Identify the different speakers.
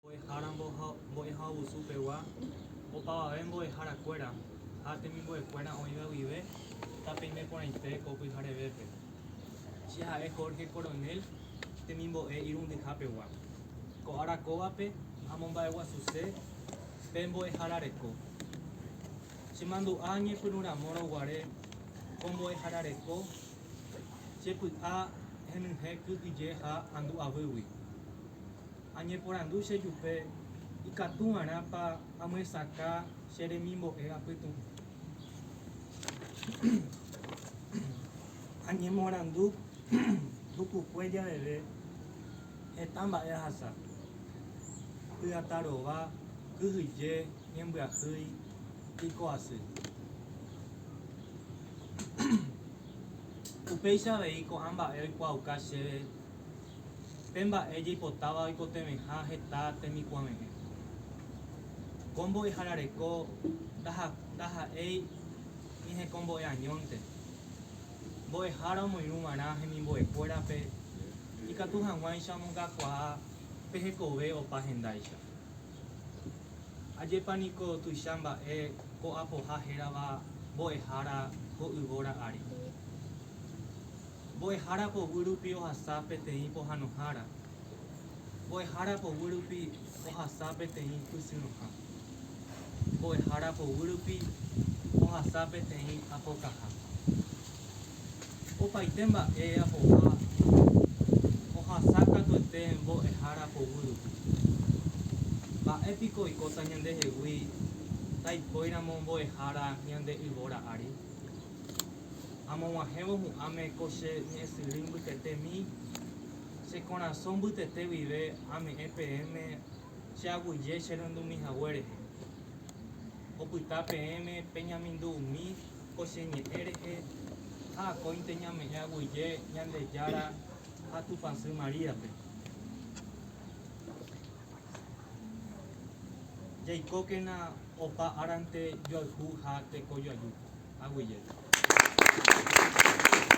Speaker 1: Mbo'ehára mbo'ehaovusu pegua, opavave mbo'ehára kuéra ha temimbo'e kuéra oĩva guive tapeime porãite ko pyharevépe. Che ha'e Jorge Coronel temimbo'e irundyha pegua. Ko ára kóvape amomba'eguasuse pe mbo'ehára reko. Che mandu'a ñepyrũ ramórõ guare ko mbo'ehára reko che py'a henyhẽ kyhyje ha andu'avýgui. Añeporandu che jupe ikatuva'erãpa amyesakã che remimbo'e apytu'ũ. Añemoarandu tukukue javeve heta mba'e ahasa, py'atarova, kyhyje, ñembyahýi, piko'asy. Upéicha avei ko'ã mba'e oikuaauka chéve. Pe mba'e jaipotáva oikotevẽha heta temikuãve'ẽ. Ko mbo'eharareko ndaha'éi ñehekombo'e añónte. Mbo'ehára omoirũ va'erã hemimbo'ekuérape ikatu hag̃uáicha omongakuaa pe hekove opa hendáicha. Ajépa niko tuicha mba'e ko'apoha hérava mbo'ehára ko yvóra ári! Mbo'ehára poguy rupi ohasa peteĩ pohanohára, mbo'ehára poguy rupi ohasa peteĩ pysyrõha, mbo'ehára poguy rupi ohasa peteĩ apokaha. Opaite mba'e apoha ohasa katuete mbo'ehára poguy rupi. Mba'e piko oikóta ñandehegui taipóiramo mbo'ehára ñande yvóra ári? Amog̃uahẽvo hu'ãme ko che ñe'ẽsyry mbytetémi, che korasõ mbytete guive ame'ẽ peẽme che aguyje che rundumi hague rehe. Opyta peẽme peñamindu umi ko che ñe'ẽ rehe ha akóinte ñame'ẽ aguyje Ñandejára ha Tupãsy Maríape. Jaikókena opa árante joayhu ha tekojoaju. Aguyje.